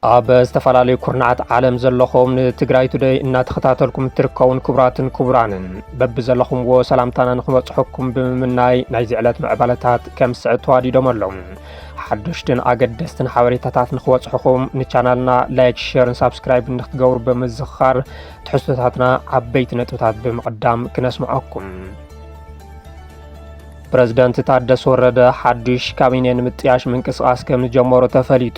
ኣብ ዝተፈላለዩ ኩርናዓት ዓለም ዘለኹም ንትግራይ ቱደይ እናተኸታተልኩም እትርከቡን ክቡራትን ክቡራንን በብዘለኹምዎ ሰላምታና ንክበፅሐኩም ብምምናይ ናይዚ ዕለት ምዕባለታት ከም ዝስዕብ ተዋዲዶም ኣለዉ። ሓደሽትን ኣገደስትን ሓበሬታታት ንክበፅሑኹም ንቻናልና ላይክ፣ ሼርን ሳብስክራይብ ንክትገብሩ ብምዝኽኻር ትሕዝቶታትና ዓበይቲ ነጥብታት ብምቕዳም ክነስምዐኩም። ፕረዚደንት ታደሰ ወረደ ሓዱሽ ካቢኔ ንምጥያሽ ምንቅስቓስ ከም ዝጀመሩ ተፈሊጡ።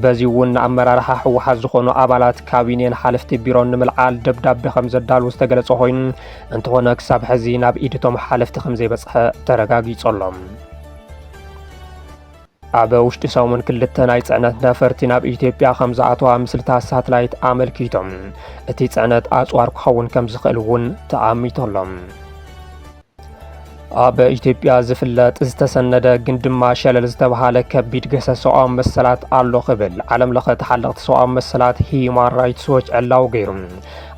በዚ እውን ንኣመራርሓ ህወሓት ዝኾኑ ኣባላት ካቢኔን ሓለፍቲ ቢሮን ንምልዓል ደብዳቤ ከም ዘዳልዉ ዝተገለጸ ኮይኑ እንተኾነ ክሳብ ሕዚ ናብ ኢድቶም ሓለፍቲ ከም ዘይበጽሐ ተረጋጊጹ ኣሎ። ኣብ ውሽጢ ሰሙን ክልተ ናይ ፅዕነት ነፈርቲ ናብ ኢትዮጵያ ከም ዝኣተዋ ምስልታት ሳትላይት ኣመልኪቶም እቲ ፅዕነት ኣፅዋር ክኸውን ከም ዝኽእል እውን ተኣሚቶሎም ኣብ ኢትዮጵያ ዝፍለጥ ዝተሰነደ ግን ድማ ሸለል ዝተብሃለ ከቢድ ገሰ ሰብኣዊ መሰላት ኣሎ ክብል ዓለም ለኸ ተሓለቕቲ ሰብኣዊ መሰላት ሂዩማን ራይትስ ዎች ዕላዊ ገይሩ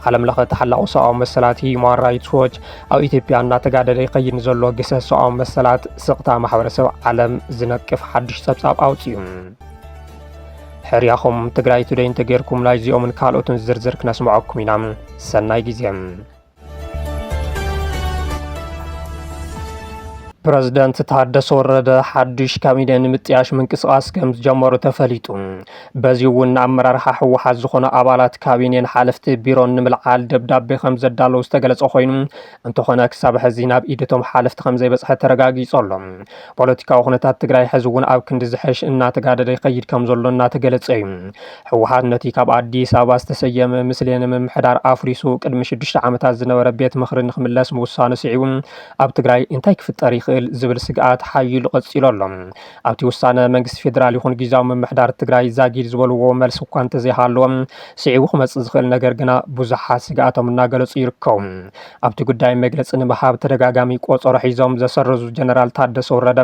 ዓለም ለኸ ተሓላቑ ሰብኣዊ መሰላት ሂዩማን ራይትስ ዎች ኣብ ኢትዮጵያ እናተጋደደ ይኸይድ ንዘሎ ግሰት ሰብኣዊ መሰላት ስቕታ ማሕበረሰብ ዓለም ዝነቅፍ ሓድሽ ጸብጻብ ኣውፅዩ። ሕርያኹም ትግራይ ቱደይ እንተጌርኩም ናይ እዚኦምን ካልኦትን ዝርዝር ክነስምዐኩም ኢና። ሰናይ ግዜ። ፕረዚደንት ታደሰ ወረደ ሓዱሽ ካቢነ ንምጥያሽ ምንቅስቓስ ከም ዝጀመሩ ተፈሊጡ። በዚ እውን ንኣመራርሓ ህወሓት ዝኾኑ ኣባላት ካቢኔን ሓለፍቲ ቢሮን ንምልዓል ደብዳቤ ከም ዘዳለዉ ዝተገለጸ ኮይኑ እንተኾነ ክሳብ ሕዚ ናብ ኢድ እቶም ሓለፍቲ ከም ዘይበጽሐ ተረጋጊጹ ኣሎ። ፖለቲካዊ ኩነታት ትግራይ ሕዚ እውን ኣብ ክንዲ ዝሐሽ እናተጋደደ ይኸይድ ከም ዘሎ እናተገለጸ እዩ። ህወሓት ነቲ ካብ ኣዲስ ኣበባ ዝተሰየመ ምስሌነ ምምሕዳር ኣፍሪሱ ቅድሚ ሽዱሽተ ዓመታት ዝነበረ ቤት ምኽሪ ንክምለስ ምውሳኑ ስዒቡ ኣብ ትግራይ እንታይ ክፍጠር ይኽእል ዝብል ስግኣት ሓዪሉ ቀፂሉ ኣሎ። ኣብቲ ውሳነ መንግስቲ ፌዴራል ይኹን ጊዜያዊ ምምሕዳር ትግራይ ዛጊድ ዝበልዎ መልሲ እኳ እንተዘይሃለወ ስዒቡ ክመፅእ ዝኽእል ነገር ግና ብዙሓት ስግኣቶም እናገለፁ ይርከቡ። ኣብቲ ጉዳይ መግለፂ ንምሃብ ተደጋጋሚ ቆፀሮ ሒዞም ዘሰረዙ ጀነራል ታደሰ ወረደ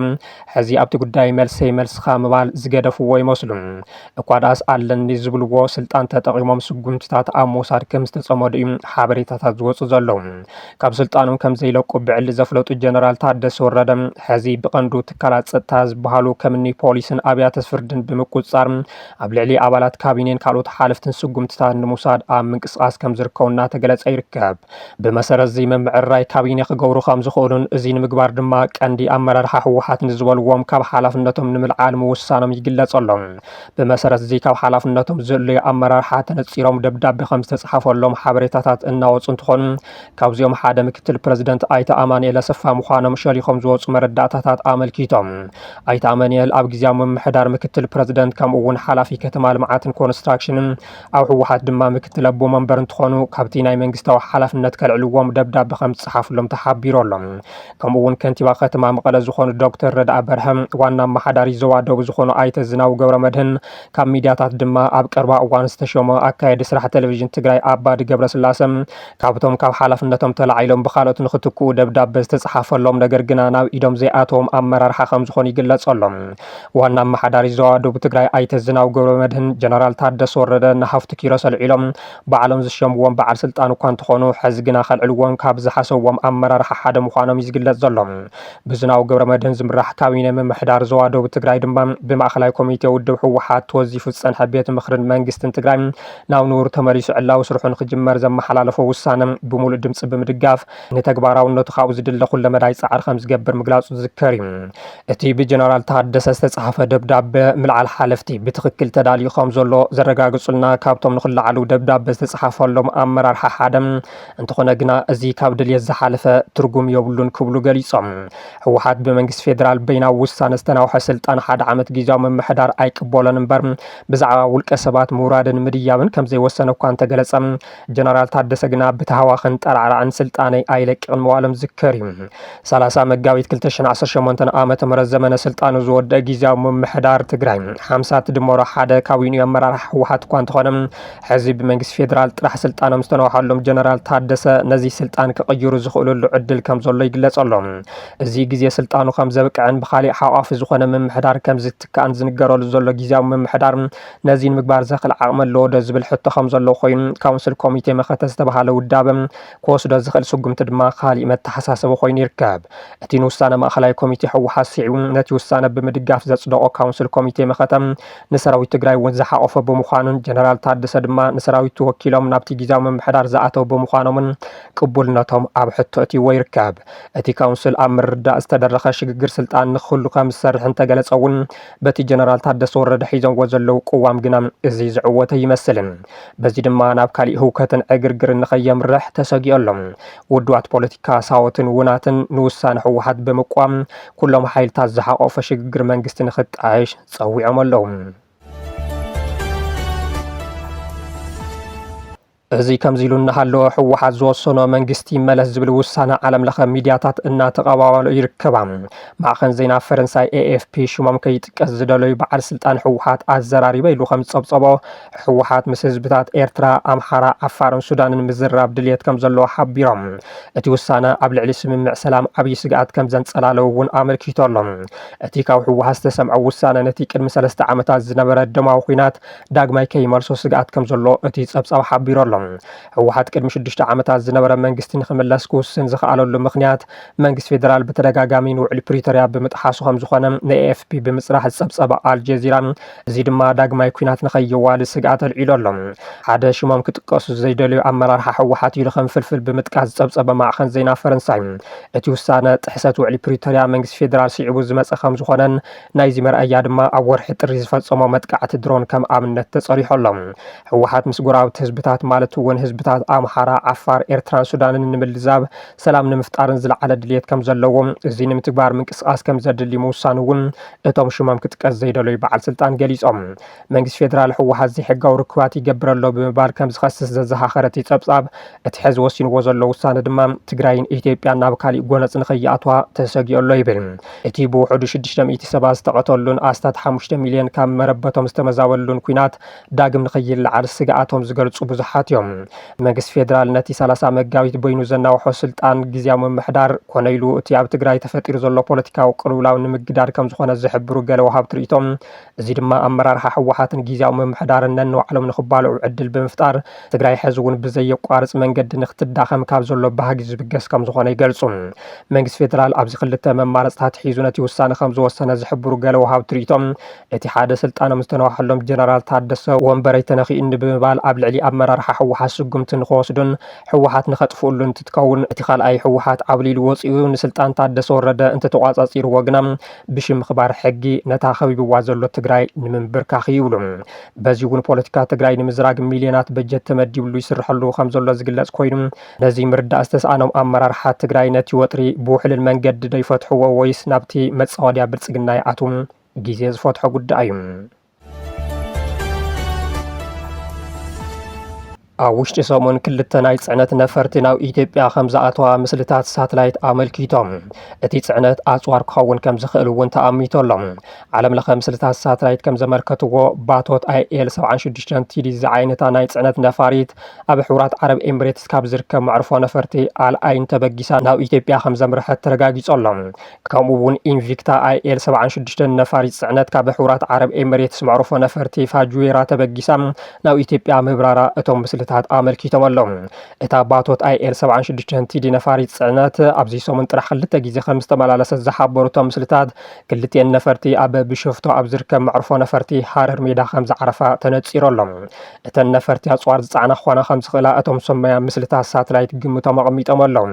ሕዚ ኣብቲ ጉዳይ መልሰይ መልስኻ ምባል ዝገደፍዎ ይመስሉ። እኳ ድኣስ ኣለኒ ዝብልዎ ስልጣን ተጠቒሞም ስጉምቲታት ኣብ ምውሳድ ከምዝተፀመዱ እዩ ሓበሬታታት ዝወፁ ዘለዉ። ካብ ስልጣኖም ከም ዘይለቁ ብዕሊ ዘፍለጡ ጀነራል ታደሰ ወረደ ሕዚ ብቐንዱ ትካላት ጸጥታ ዝበሃሉ ከምኒ ፖሊስን ኣብያተ ፍርድን ብምቁጽጻር ኣብ ልዕሊ ኣባላት ካቢኔን ካልኦት ሓለፍትን ስጉምትታት ንምውሳድ ኣብ ምንቅስቓስ ከም ዝርከቡ እናተገለጸ ይርከብ። ብመሰረት እዚ ምምዕርራይ ካቢኔ ክገብሩ ከም ዝኽእሉን እዚ ንምግባር ድማ ቀንዲ ኣመራርሓ ህወሓት ንዝበልዎም ካብ ሓላፍነቶም ንምልዓል ምውሳኖም ይግለጸሎም። ብመሰረት እዚ ካብ ሓላፍነቶም ዝእለዩ ኣመራርሓ ተነፂሎም ደብዳቤ ከም ዝተፅሓፈሎም ሓበሬታታት እናወፁ እንትኾኑ ካብዚኦም ሓደ ምክትል ፕረዚደንት ኣይተ ኣማንኤል ኣሰፋ ምዃኖም ሸሊኾም ዝወፁ መረዳእታታት ኣመልኪቶም። ኣይተ ኣማንኤል ኣብ ግዜያዊ ምምሕዳር ምክትል ፕረዚደንት ከምኡ እውን ሓላፊ ከተማ ልምዓትን ኮንስትራክሽንን ኣብ ህወሓት ድማ ምክትል ኣቦ መንበር እንትኾኑ ካብቲ ናይ መንግስታዊ ሓላፍነት ከልዕልዎም ደብዳበ ከም ዝፀሓፍሎም ተሓቢሩ ኣሎ። ከምኡ እውን ከንቲባ ከተማ መቐለ ዝኾኑ ዶክተር ረድኣ በርሀ፣ ዋና ኣመሓዳሪ ዞባ ደቡብ ዝኾኑ ኣይተ ዝናቡ ገብረመድህን፣ ካብ ሚድያታት ድማ ኣብ ቀርባ እዋን ዝተሾመ ኣካየዲ ስራሕ ቴሌቪዥን ትግራይ ኣባዲ ገብረስላሰ ካብቶም ካብ ሓላፍነቶም ተላዒሎም ብካልኦት ንክትክኡ ደብዳበ ዝተፅሓፈሎም ነገር ግና ናብ ኢዶም ዘይኣተዎም ኣመራርሓ ከምዝኾኑ ይግለፀሎም። ዋና ኣመሓዳሪ ዞባ ደቡብ ትግራይ ኣይተ ዝናቡ ገብረመድህን ጀነራል ታደሰ ወረደ ንሃፍቱ ኪሮስ ኣልዒሎም ባዕሎም ዝሸምዎም በዓል ስልጣን እኳ እንተኾኑ ሐዚ ግና ከልዕልዎም ካብ ዝሓሰብዎም ኣመራርሓ ሓደ ምዃኖም እዩ ዝግለፅ ዘሎ። ብዝናቡ ገብረመድህን ዝምራሕ ካቢነ ምምሕዳር ዞባ ደቡብ ትግራይ ድማ ብማእኸላይ ኮሚቴ ውድብ ህወሓት ተወዚፉ ዝፀንሐ ቤት ምኽርን መንግስትን ትግራይ ናብ ንቡር ተመሊሱ ዕላዊ ስርሑ ንክጅመር ዘመሓላለፎ ውሳነ ብሙሉእ ድምፂ ብምድጋፍ ንተግባራውነቱ ካብኡ ዝድለ ኩለመዳይ ፃዕሪ ከምዝገብር ምግላፁ ዝዝከር እዩ። እቲ ብጀነራል ታደሰ ዝተፅሓፈ ደብዳበ ምልዓል ሓለፍቲ ብትኽክል ተዳልዩ ከምዘሎ ዘረጋግፁልና ካብቶም ንክለዓሉ ደብዳበ ዝተፅሓፈሎም ኣመራርሓ ሓደ እንተኾነ ግና እዚ ካብ ድልየት ዝሓለፈ ትርጉም የብሉን ክብሉ ገሊፆም። ህወሓት ብመንግስቲ ፌዴራል በይናዊ ውሳነ ዝተናውሐ ስልጣን ሓደ ዓመት ጊዚያዊ ምምሕዳር ኣይቅበሎን እምበር ብዛዕባ ውልቀ ሰባት ምውራድን ምድያብን ከምዘይወሰነ እኳ እንተገለጸ፣ ጀነራል ታደሰ ግና ብታህዋኽን ጠራዕራዕን ስልጣነይ ኣይለቅቕን ምባሎም ዝከር እዩ። ሰላሳ መጋቢት ክልተ ሽሕን ዓሰርተ ሸሞንተን ዓመተ ምህረት ዘመነ ስልጣኑ ዝወደእ ጊዚያዊ ምምሕዳር ትግራይ ሓምሳ ትድመሮ ሓደ ካቢኑ እዩ ኣመራርሓ ህወሓት እኳ እንተኾነ ሕዚ ብመንግስቲ ፌደራል ጥራሕ ስልጣኖም ዝተነውሓሎም ጀነራል ታደሰ ነዚ ስልጣን ክቕይሩ ዝኽእልሉ ዕድል ከምዘሎ ይግለጸሎም። እዚ ግዜ ስልጣኑ ከም ዘብቅዕን ብኻሊእ ሓቋፊ ዝኾነ ምምሕዳር ከም ዝትካእን ዝንገረሉ ዘሎ ጊዚያዊ ምምሕዳር ነዚ ንምግባር ዘኽል ዓቕሚ ኣለዎ'ዶ ዝብል ሕቶ ከም ዘሎ ኮይኑ ካውንስል ኮሚቴ መኸተ ዝተብሃለ ውዳበ ክወስዶ ዝኽእል ስጉምቲ ድማ ኻሊእ መተሓሳሰቢ ኮይኑ ይርከብ። እቲ ንውሳነ ማእኸላይ ኮሚቴ ህወሓት ስዒቡ ነቲ ውሳነ ብምድጋፍ ዘፅደቖ ካውንስል ኮሚቴ መኸተ ንሰራዊት ትግራይ እውን ዝሓቖፈ ብምዃኑን ጀነራል ታደሰ ድማ ንሰራዊቱ ወኪሎም ናብቲ ጊዚያዊ ምምሕዳር ዝኣተው ብምዃኖምን ቅቡልነቶም ኣብ ሕቶ እትይዎ ይርከብ። እቲ ካውንስል ኣብ ምርዳእ ዝተደረኸ ሽግግር ስልጣን ንክህሉ ከም ዝሰርሕ እንተገለፀ እውን በቲ ጀነራል ታደሰ ወረደ ሒዘዎ ዘለዉ ቅዋም ግና እዚ ዝዕወት ኣይመስልን። በዚ ድማ ናብ ካሊእ ህውከትን ዕግርግርን ንከየምርሕ ተሰጊኦ ኣሎ። ውድባት ፖለቲካ ሳወትን ውናትን ንውሳነ ህወሓት ብምቅዋም ኩሎም ሓይልታት ዝሓቆፈ ሽግግር መንግስቲ ንክጣየሽ ፀዊዖም ኣለዉ። እዚ ከምዚ ኢሉ እናሃለወ ህወሓት ዝወሰኖ መንግስቲ ይመለስ ዝብል ውሳነ ዓለም ለኸ ሚድያታት እናተቐባበሎ ይርከባ። ማዕኸን ዜና ፈረንሳይ ኤኤፍፒ ሽሞም ከይጥቀስ ዝደለዩ በዓል ስልጣን ህወሓት ኣዘራሪበ ኢሉ ከም ዝፀብፀቦ ህወሓት ምስ ህዝብታት ኤርትራ፣ ኣምሓራ፣ ዓፋርን ሱዳንን ምዝራብ ድልየት ከም ዘለዎ ሓቢሮም። እቲ ውሳነ ኣብ ልዕሊ ስምምዕ ሰላም ዓብዪ ስግኣት ከም ዘንፀላለ እውን ኣመልኪቱ ኣሎ። እቲ ካብ ህወሓት ዝተሰምዐ ውሳነ ነቲ ቅድሚ ሰለስተ ዓመታት ዝነበረ ደማዊ ኲናት ዳግማይ ከይመልሶ ስግኣት ከምዘሎ እቲ ፀብፃብ ሓቢሩ ኣሎ። ህወሓት ቅድሚ ሽዱሽተ ዓመታት ዝነበረ መንግስቲ ንክምለስ ክውስን ዝኸኣለሉ ምኽንያት መንግስቲ ፌደራል ብተደጋጋሚ ንውዕሊ ፕሪቶርያ ብምጥሓሱ ከምዝኾነ ንኤኤፍፒ ብምፅራሕ ዝፀብፀበ ኣልጀዚራ እዚ ድማ ዳግማይ ኲናት ንከየዋልድ ስግኣት ኣልዒሉ ኣሎ። ሓደ ሽሞም ክጥቀሱ ዘይደለዩ ኣመራርሓ ህወሓት ኢሉ ከም ፍልፍል ብምጥቃስ ዝፀብፀበ ማዕኸን ዜና ፈረንሳይ እቲ ውሳነ ጥሕሰት ውዕሊ ፕሪቶርያ መንግስቲ ፌደራል ስዒቡ ዝመፀ ከምዝኾነን ናይዚ መርኣያ ድማ ኣብ ወርሒ ጥሪ ዝፈፀሞ መጥቃዕቲ ድሮን ከም ኣብነት ተፀሪሑ ኣሎ። ህወሓት ምስ ጎረባብቲ ህዝብታት ማለት እውን ህዝብታት ኣምሓራ፣ ዓፋር፣ ኤርትራን ሱዳንን ንምልዛብ፣ ሰላም ንምፍጣርን ዝለዓለ ድልየት ከም ዘለዎ፣ እዚ ንምትግባር ምንቅስቓስ ከም ዘድሊ ምውሳኑ እውን እቶም ሽሞም ክጥቀስ ዘይደለዩ በዓል ስልጣን ገሊፆም። መንግስቲ ፌደራል ህወሓት ዘይሕጋዊ ርክባት ይገብር ኣሎ ብምባል ከም ዝኸስስ ዘዘኻኸረ እቲ ፀብፃብ፣ እቲ ሕዚ ወሲንዎ ዘሎ ውሳነ ድማ ትግራይን ኢትዮጵያን ናብ ካሊእ ጎነፅ ንከይኣትዋ ተሰጊኡ ኣሎ ይብል። እቲ ብውሑዱ ሽዱሽተ ሚእቲ ሰባት ዝተቐተሉን ኣስታት ሓሙሽተ ሚልየን ካብ መረበቶም ዝተመዛበሉን ኲናት ዳግም ንከይለዓል ስግኣቶም ዝገልፁ ብዙሓት እዮም። መንግስቲ ፌደራል ነቲ ሰላሳ መጋቢት በይኑ ዘናውሖ ስልጣን ግዝያዊ ምምሕዳር ኮነ ኢሉ እቲ ኣብ ትግራይ ተፈጢሩ ዘሎ ፖለቲካዊ ቅልውላው ንምግዳድ ከም ዝኾነ ዝሕብሩ ገለ ወሃብቲ ሪኢቶ እዚ ድማ ኣመራርሓ ህወሓትን ጊዜያዊ ምምሕዳርን ነንባዕሎም ንኽባልዑ ዕድል ብምፍጣር ትግራይ ሕዚ እውን ብዘየቋርፅ መንገዲ ንኽትዳኸም ካብ ዘሎ ባህጊ ዝብገስ ከምዝኾነ ይገልፁ። መንግስቲ ፌዴራል ኣብዚ ክልተ መማረፅታት ሒዙ ነቲ ውሳነ ከምዝወሰነ ዝሕብሩ ገለ ወሃብቲ ሪኢቶ እቲ ሓደ ስልጣኖም ዝተነዋሐሎም ጀነራል ታደሰ ወንበረይ ተነኺኡኒ ብምባል ኣብ ልዕሊ ኣመራርሓ ህወሓት ስጉምቲ ንኽወስዱን ህወሓት ንኸጥፍኡሉ እንትትከውን እቲ ካልኣይ ህወሓት ዓብሊሉ ወፂኡ ንስልጣን ታደሰ ወረደ እንተተቋፃፂርዎ ግና ብሽም ምኽባር ሕጊ ነታ ከቢብዋ ዘሎ ትግራይ ንምንብርካኽ ይብሉ። በዚ እውን ፖለቲካ ትግራይ ንምዝራግ ሚልዮናት በጀት ተመዲብሉ ይስርሐሉ ከምዘሎ ዝግለፅ ኮይኑ ነዚ ምርዳእ ዝተስኣኖም ኣመራርሓ ትግራይ ነቲ ወጥሪ ብውሕልል መንገዲ ዶ ይፈትሕዎ ወይስ ናብቲ መፃወድያ ብልፅግና ይኣትው ግዜ ዝፈትሖ ጉዳይ እዩ። ኣብ ውሽጢ ሰሙን ክልተ ናይ ፅዕነት ነፈርቲ ናብ ኢትዮጵያ ከም ዝኣተዋ ምስልታት ሳትላይት ኣመልኪቶም እቲ ፅዕነት ኣፅዋር ክኸውን ከም ዝኽእል እውን ተኣሚቶ ኣሎ ዓለም ለኸ ምስልታት ሳትላይት ከም ዘመልከትዎ ባቶት ኣይኤል 76 ቲዲ ዝዓይነታ ናይ ፅዕነት ነፋሪት ኣብ ሕቡራት ዓረብ ኤምሬትስ ካብ ዝርከብ መዕርፎ ነፈርቲ ኣልኣይን ተበጊሳ ናብ ኢትዮጵያ ከም ዘምርሐት ተረጋጊፆ ኣሎ ከምኡ እውን ኢንቪክታ ኣይኤል 76 ነፋሪት ፅዕነት ካብ ሕቡራት ዓረብ ኤምሬትስ መዕርፎ ነፈርቲ ፋጁዌራ ተበጊሳ ናብ ኢትዮጵያ ምብራራ እቶም ምስልታት ኣመልኪቶም ኣለዉ። እታ ባቶት ኣይኤል 76 ቲዲ ነፋሪት ፅዕነት ኣብዚ ሰሙን ጥራሕ ክልተ ግዜ ከም ዝተመላለሰት ዝሓበሩ እቶም ምስልታት ክልቲኤን ነፈርቲ ኣብ ብሸፍቶ ኣብ ዝርከብ መዕርፎ ነፈርቲ ሃረር ሜዳ ከም ዝዓረፋ ተነፂሩ ኣሎ። እተን ነፈርቲ ኣፅዋር ዝፀዓና ክኾና ከም ዝኽእላ እቶም ሰመያ ምስልታት ሳትላይት ግምቶም ኣቐሚጦም ኣለዉ።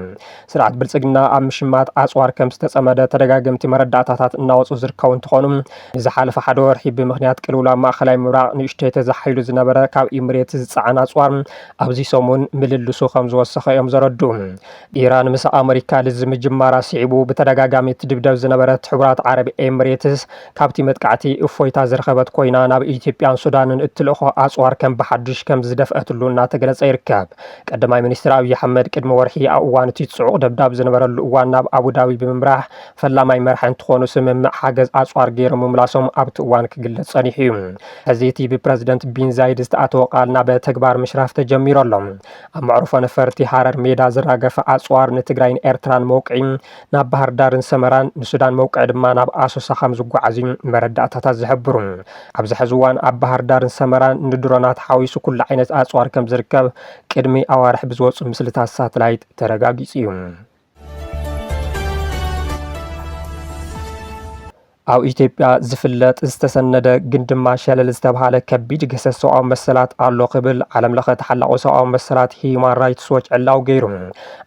ስርዓት ብልፅግና ኣብ ምሽማት ኣፅዋር ከም ዝተፀመደ ተደጋገምቲ መረዳእታታት እናወፁ ዝርከቡ እንትኾኑ ንዝሓለፈ ሓደ ወርሒ ብምኽንያት ቅልውላ ኣብ ማእኸላይ ምብራቕ ንእሽተይ ተዛሒሉ ዝነበረ ካብ ኢምሬት ዝፀዓን ኣፅዋር ኣብዚ ሰሙን ምልልሱ ከም ዝወሰኸ እዮም ዘረድኡ። ኢራን ምስ ኣመሪካ ልዝብ ምጅማራ ስዒቡ ብተደጋጋሚ እትድብደብ ዝነበረት ሕቡራት ዓረብ ኤምሬትስ ካብቲ መጥቃዕቲ እፎይታ ዝረኸበት ኮይና ናብ ኢትዮጵያን ሱዳንን እትልእኾ ኣፅዋር ከም ብሓዱሽ ከም ዝደፍኣትሉ እናተገለፀ ይርከብ። ቀዳማይ ሚኒስትር ኣብዪ ኣሕመድ ቅድሚ ወርሒ ኣብ እዋን እቲ ጽዑቕ ደብዳብ ዝነበረሉ እዋን ናብ ኣቡዳቢ ብምምራሕ ፈላማይ መራሒ እንትኾኑ ስምምዕ ሓገዝ ኣጽዋር ገይሮም ምምላሶም ኣብቲ እዋን ክግለጽ ጸኒሑ እዩ። ሕዚ እቲ ብፕረዚደንት ቢን ዛይድ ዝተኣተወ ቃል ናብ ተግባር ምሽራፍ ተጀሚሩ ኣሎ። ኣብ መዕርፎ ነፈርቲ ሃረር ሜዳ ዝራገፈ ኣጽዋር ንትግራይን ኤርትራን መውቅዒ ናብ ባህርዳርን ሰመራን፣ ንሱዳን መውቅዒ ድማ ናብ ኣሶሳ ከም ዝጓዓዝ እዩ መረዳእታታት ዝሕብሩ። ኣብዚ ሕዚ እዋን ኣብ ባህርዳርን ሰመራን ንድሮናት ሓዊሱ ኩሉ ዓይነት ኣጽዋር ከም ዝርከብ ቅድሚ ኣዋርሕ ብዝወጹ ምስልታት ሳትላይት ተረጋጊጹ እዩ። ኣብ ኢትዮጵያ ዝፍለጥ ዝተሰነደ ግን ድማ ሸለል ዝተብሃለ ከቢድ ግህሰት ሰብኣዊ መሰላት ኣሎ ክብል ዓለምለኸ ተሓላቒ ሰብኣዊ መሰላት ሂዩማን ራይትስ ዎች ዕላዊ ገይሩ።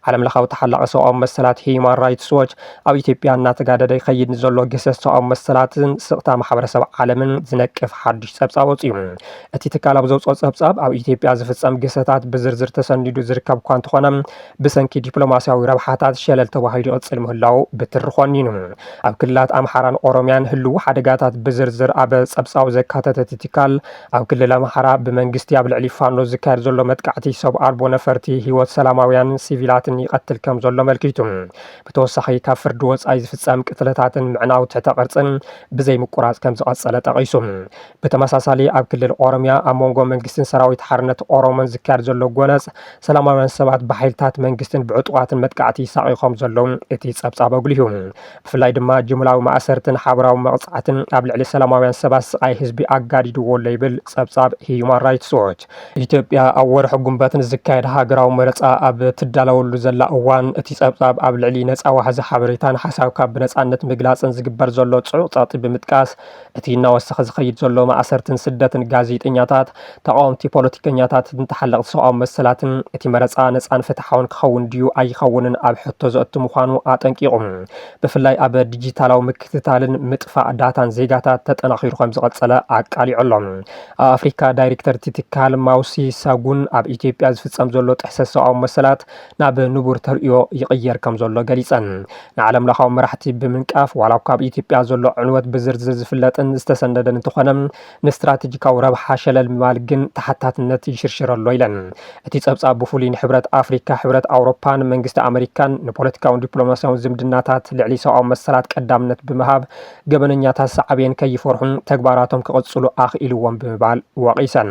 ዓለምለኻዊ ተሓላቒ ሰብኣዊ መሰላት ሂዩማን ራይትስ ዎች ኣብ ኢትዮጵያ እናተጋደደ ይኸይድ ንዘሎ ግህሰት ሰብኣዊ መሰላትን ስቕታ ማሕበረሰብ ዓለምን ዝነቅፍ ሓዱሽ ጸብጻብ ወጺኡ። እቲ ትካል ኣብ ዘውጽኦ ጸብጻብ ኣብ ኢትዮጵያ ዝፍጸም ግህሰታት ብዝርዝር ተሰኒዱ ዝርከብ እኳ እንተኾነ ብሰንኪ ዲፕሎማስያዊ ረብሓታት ሸለል ተባሂሉ ይቕጽል ምህላዉ ብትሪ ኾኒኑ። ኣብ ክልላት ኣምሓራን ኦሮምያን ህልዉ ሓደጋታት ብዝርዝር ኣብ ጸብጻቡ ዘካተተ እቲ ትካል፣ ኣብ ክልል ኣምሓራ ብመንግስቲ ኣብ ልዕሊ ፋኖ ዝካየድ ዘሎ መጥቃዕቲ ሰብ ኣልቦ ነፈርቲ ህይወት ሰላማውያንን ሲቪላትን ይቐትል ከምዘሎ ኣመልኪቱ። ብተወሳኺ ካብ ፍርዲ ወጻኢ ዝፍጸም ቅትለታትን ምዕናው ትሕተ ቅርጽን ብዘይምቁራጽ ከምዝቐጸለ ጠቒሱ። ብተመሳሳሊ ኣብ ክልል ኦሮሚያ ኣብ መንጎ መንግስትን ሰራዊት ሓርነት ኦሮሞን ዝካየድ ዘሎ ጎነጽ ሰላማውያን ሰባት ብሓይልታት መንግስትን ብዕጡቓትን መጥቃዕቲ ይሳቐዩ ከም ዘለዉ እቲ ጸብጻብ ኣጉሊሁ። ብፍላይ ድማ ጅምላዊ ማእሰርትን ሓበራዊ መቕጻዕትን ኣብ ልዕሊ ሰላማውያን ሰባት ስቓይ ህዝቢ ኣጋዲድዎ ኣሎ ይብል ጸብጻብ ህዩማን ራይትስ ዎች። ኢትዮጵያ ኣብ ወርሒ ጉንበት ንዝካየድ ሃገራዊ መረጻ ኣብ እትዳለወሉ ዘላ እዋን እቲ ጸብጻብ ኣብ ልዕሊ ነጻ ዋሕዚ ሓበሬታን ሓሳብካ ብነጻነት ምግላጽን ዝግበር ዘሎ ጽዑቕ ጸቕጢ ብምጥቃስ እቲ እናወሰኸ ዝኸይድ ዘሎ ማእሰርትን ስደትን ጋዜጠኛታት፣ ተቓወምቲ ፖለቲከኛታትን ተሓለቕቲ ሰብኣዊ መሰላትን፣ እቲ መረጻ ነጻን ፍትሓውን ክኸውን ድዩ ኣይኸውንን ኣብ ሕቶ ዘእቱ ምዃኑ ኣጠንቂቑ። ብፍላይ ኣብ ዲጂታላዊ ምክትታልን ምጥፋእ ዳታን ዜጋታት ተጠናኺሩ ከምዝቐጸለ ኣቃሊዑ ኣሎ። ኣብ ኣፍሪካ ዳይሬክተር እቲ ትካል ማውሲ ሳጉን፣ ኣብ ኢትዮጵያ ዝፍጸም ዘሎ ጥሕሰት ሰብኣዊ መሰላት፣ ናብ ንቡር ተርእዮ ይቕየር ከም ዘሎ ገሊጸን። ንዓለምለኻዊ መራሕቲ ብምንቃፍ ዋላ እኳ ኣብ ኢትዮጵያ ዘሎ ዕንወት ብዝርዝር ዝፍለጥን ዝተሰነደን እንተኾነ ንስትራቴጂካዊ ረብሓ ሸለል ምባል ግን ተሓታትነት ይሽርሽር ኣሎ ኢለን። እቲ ጸብጻብ ብፍሉይ ንሕብረት ኣፍሪካ፣ ሕብረት ኣውሮፓን መንግስቲ ኣመሪካን ንፖለቲካውን ዲፕሎማስያውን ዝምድናታት ልዕሊ ሰብኣዊ መሰላት ቀዳምነት ብምሃብ ገበነኛታት ሳዕቤን ከይፈርሑን ተግባራቶም ክቕጽሉ ኣኽኢልዎም ብምባል ወቒሰን።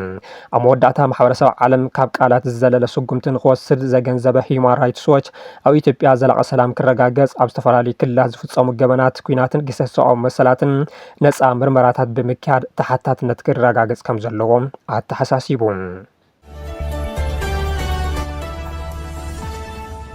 ኣብ መወዳእታ ማሕበረሰብ ዓለም ካብ ቃላት ዝዘለለ ስጉምቲ ንክወስድ ዘገንዘበ ሂዩማን ራይትስ ዎች፣ ኣብ ኢትዮጵያ ዘላቒ ሰላም ክረጋገፅ ኣብ ዝተፈላለዩ ክልላት ዝፍፀሙ ገበናት ኲናትን ግህሰት ሰብኣዊ መሰላትን ነፃ ምርመራታት ብምክያድ ተሓታትነት ክረጋገፅ ከምዘለዎ ኣተሓሳሲቡ።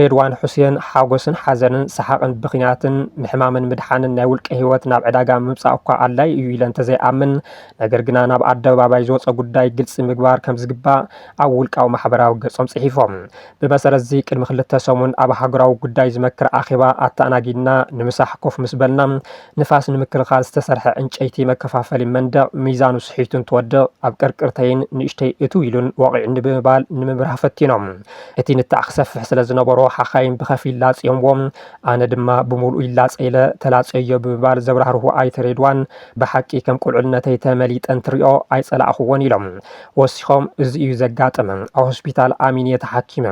ሬድዋን ሑሴን፣ ሓጎስን ሓዘንን፣ ሰሓቕን ብኽያትን፣ ምሕማምን ምድሓንን ናይ ውልቀ ህይወት ናብ ዕዳጋ ምምጻእ እኳ ኣድላዪ እዩ ኢለ እንተዘይኣምን፣ ነገር ግና ናብ ኣደባባይ ዝወጸ ጉዳይ ግልጺ ምግባር ከምዝግባእ ኣብ ውልቃዊ ማሕበራዊ ገጾም ጽሒፎም። ብመሰረት'ዚ ቅድሚ ክልተ ሰሙን ኣብ ሃገራዊ ጉዳይ ዝመክር ኣኼባ ኣተኣናጊድና ንምሳሕ ኮፍ ምስ በልና፣ ንፋስ ንምክልኻል ዝተሰርሐ ዕንጨይቲ መከፋፈሊ መንደቕ ሚዛኑ ስሒቱ እንትወድቕ ኣብ ቅርቅርተይን ንእሽተይ እትው ኢሉን ወቒዑኒ ብምባል ንምብራህ ፈቲኖም። እቲ ንታዕ ክሰፍሕ ስለ ዝነበሮ ሓኻይም ብኸፊል ላጽዮምዎ፣ ኣነ ድማ ብምሉኡ ይላጸ ኢለ ተላጽየዮ ብምባል ዘብራህርሁ ኣይተ ሬድዋን፣ ብሓቂ ከም ቁልዕነተይ ተመሊጠ እንትሪኦ ኣይጸላእኹዎን ኢሎም። ወሲኾም እዚ እዩ ዘጋጠመ፣ ኣብ ሆስፒታል ኣሚን እየ ተሓኪመ፣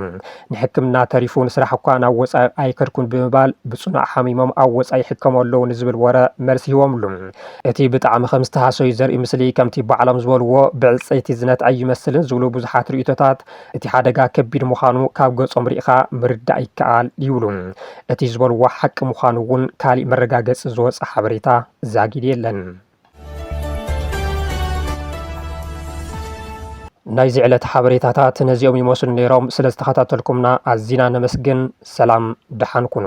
ንሕክምና ተሪፉ ንስራሕ እኳ ናብ ወፃኢ ኣይከድኩን ብምባል ብፅኑዕ ሓሚሞም ኣብ ወፃኢ ይሕከሙ ኣለዉ ንዝብል ወረ መልሲ ሂቦምሉ። እቲ ብጣዕሚ ከም ዝተሃሰዩ ዘርኢ ምስሊ ከምቲ ባዕሎም ዝበልዎ ብዕፀይቲ ዝነትዐ ኣይመስልን ዝብሉ ብዙሓት ርኢቶታት እቲ ሓደጋ ከቢድ ምዃኑ ካብ ገፆም ሪኢኻ ምርዳእ ይከኣል ይብሉ። እቲ ዝበልዎ ሓቂ ምዃኑ እውን ካሊእ መረጋገፂ ዝወፀ ሓበሬታ ዛጊድ የለን። ናይዚ ዕለት ሓበሬታታት ነዚኦም ይመስሉ ነይሮም። ስለ ዝተኸታተልኩምና ኣዚና ነመስግን። ሰላም ደሓን ኩኑ።